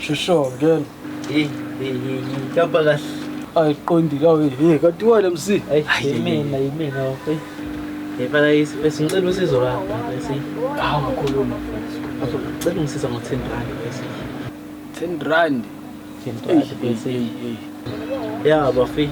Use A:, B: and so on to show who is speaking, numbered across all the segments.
A: Shosho ngena. Hey, hey,
B: hey, ngihamba kahle. Ayiqondile
A: awu hey kanti wena MC. Ayi, yimina,
B: yimina. Hey. Hey, bala yisi, besingicela usizo lakho, bese. Hawu ngakhuluma
A: mfethu.
B: Ngicela ungisiza ngo-10 rand bese. 10
A: rand.
B: ya bafi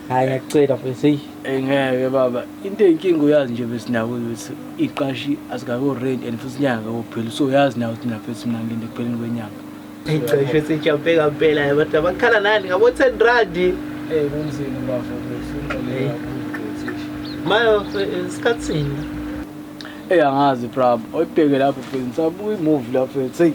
B: hayi ngiyacela mfethu eyi Eh, ngeke baba
A: into eyinkinga uyazi nje besinako ukuthi iqashi asikako rent and futhi inyanga kakupheli so uyazi nawe ukuthi nafethu mina ngilinde ekupheleni kwenyanga icesho
B: sejampe kampela abantu abakhala nani ngabo-ten randi Eh,
A: kunzima
B: bafo Hey. mayo eh, isikhathini
A: eyi angazi prob oyibheke lapho fethu ngisabuka imuvi lapho fethu eyi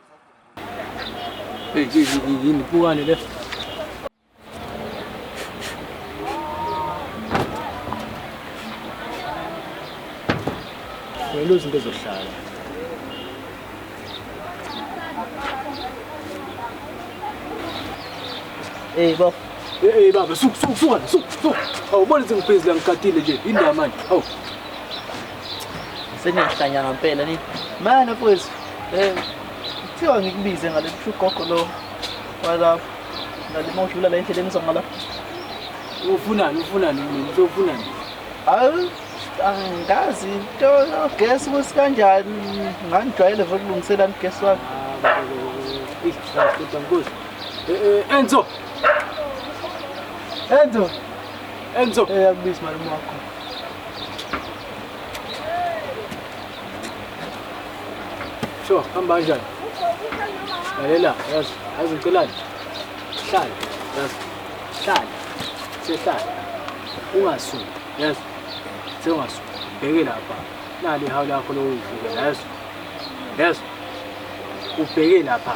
A: Hey, yini pukane le? Ngelo zinto ezohlala. Hey, baba. Hey, baba, suka suka suka suka. Awubona ukuthi ngibhizi la ngigadile nje. Indaba manje. Awu.
B: Sengiyahlanya ngampela ni. Mana mfowethu. Eh kuthiwa ngikubize ngale gogo lo walapho. Ngalima udlula la endleleni uzoma lapho.
A: Ufunani ufunani mina uzofunani? Hayi
B: angazi into yogesi ukuthi kanjani ngangijwayele vele ukulungiselana ugesi wami. Ah,
A: Enzo. Enzo.
B: Enzo. Eh, yakubiza malume wakho.
A: Sho, hamba kanjani? Lalela, yazi, yazi ngicelani? Hlala, yazi. Hlala. Sehlala. Ungasuki, yazi. Sewungasuki. Bheke lapha. Nali hawu lakho lokuvuka, yazi. Yazi. Ubheke lapha.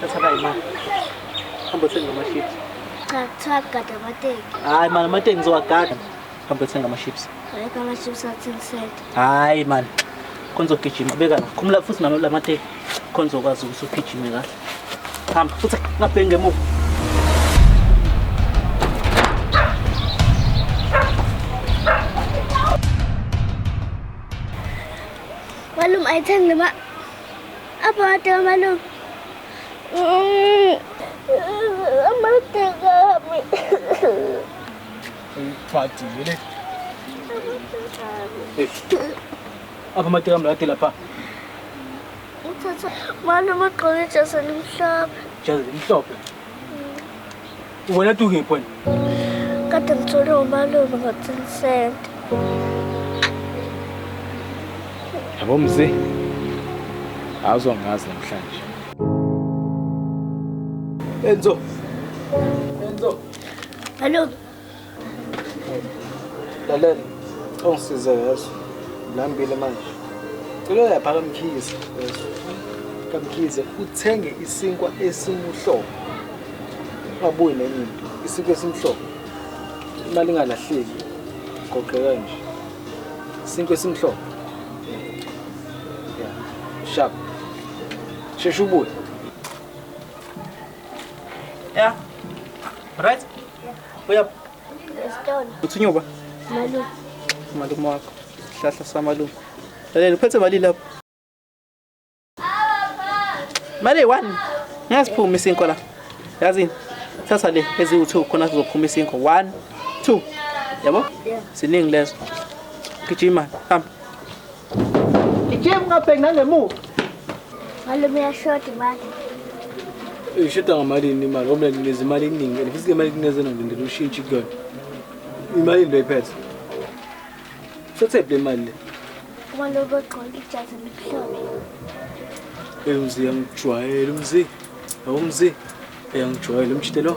C: Thatha imali. Hamba uthenga ama-chips. Cha,
B: kuthiwa kugada amateki. Hhayi mani amateki ngizowagada. Hamba uthenga ama-chips. Ayikho ama-chips
C: athini sente. Hhayi mani.
B: Khona uzogijima beka la. Khumula futhi nalo la mateki. Khona uzokwazi ukuthi ugijime kahle. Hamba futhi ngabheki ngemuva.
C: Malume, ayithenge le ma- Abode malume. Amade kami.
A: Pati vile. Apa mati kami lati lapa. Uthatha
C: malume ugqoke ijazi elimhlophe. Ijazi elimhlophe.
A: Wena tu ngiphi wena? Kade
C: ngithole umalume ngo-ten cent.
A: Yabo mzi. Awuzongazi namhlanje. Enzo. Enzo.
C: Malume.
A: Lalela, ungisize yeso. Ngilambile manje. Cela uyapha kamkhize yeso. Kamkhize uthenge isinkwa esimuhlobo. Ungabuyi nenye into. Isinkwa esimhlobo. Imali ingalahleki. Goqeka nje. Isinkwa esimhlobo. Yeah. Sharp. Shesha ubuye.
B: Yeah. Right? Yeah. Uyaphi?
A: Esitolo.
C: Uthunywa
B: ba? Malume. Malume wakho. Sihlahla samalume. Lalela uphethe mali lapho. Mali one. Ngiyasiphuma isinko la. Yazini? Thatha le eziwu-2 khona sizophuma isinko. 1 2. Yabo? Siningi
C: lezo.
B: Gijima, hamba. Gijima ungabheki nangemuva. Malume
C: uyashoda imali.
A: Ishoda ngamalini imali ngoba nginikeza imali eningi and futhi le mali nginikeza nje ngidela ushintshi kuyona. Imali into ephethe. Sothe le mali le. Uma lokho
C: gqoka ijazi elimhlophe. Hey mzi yangijwayela
A: umzi. Awumzi. Yangijwayela umjitelo.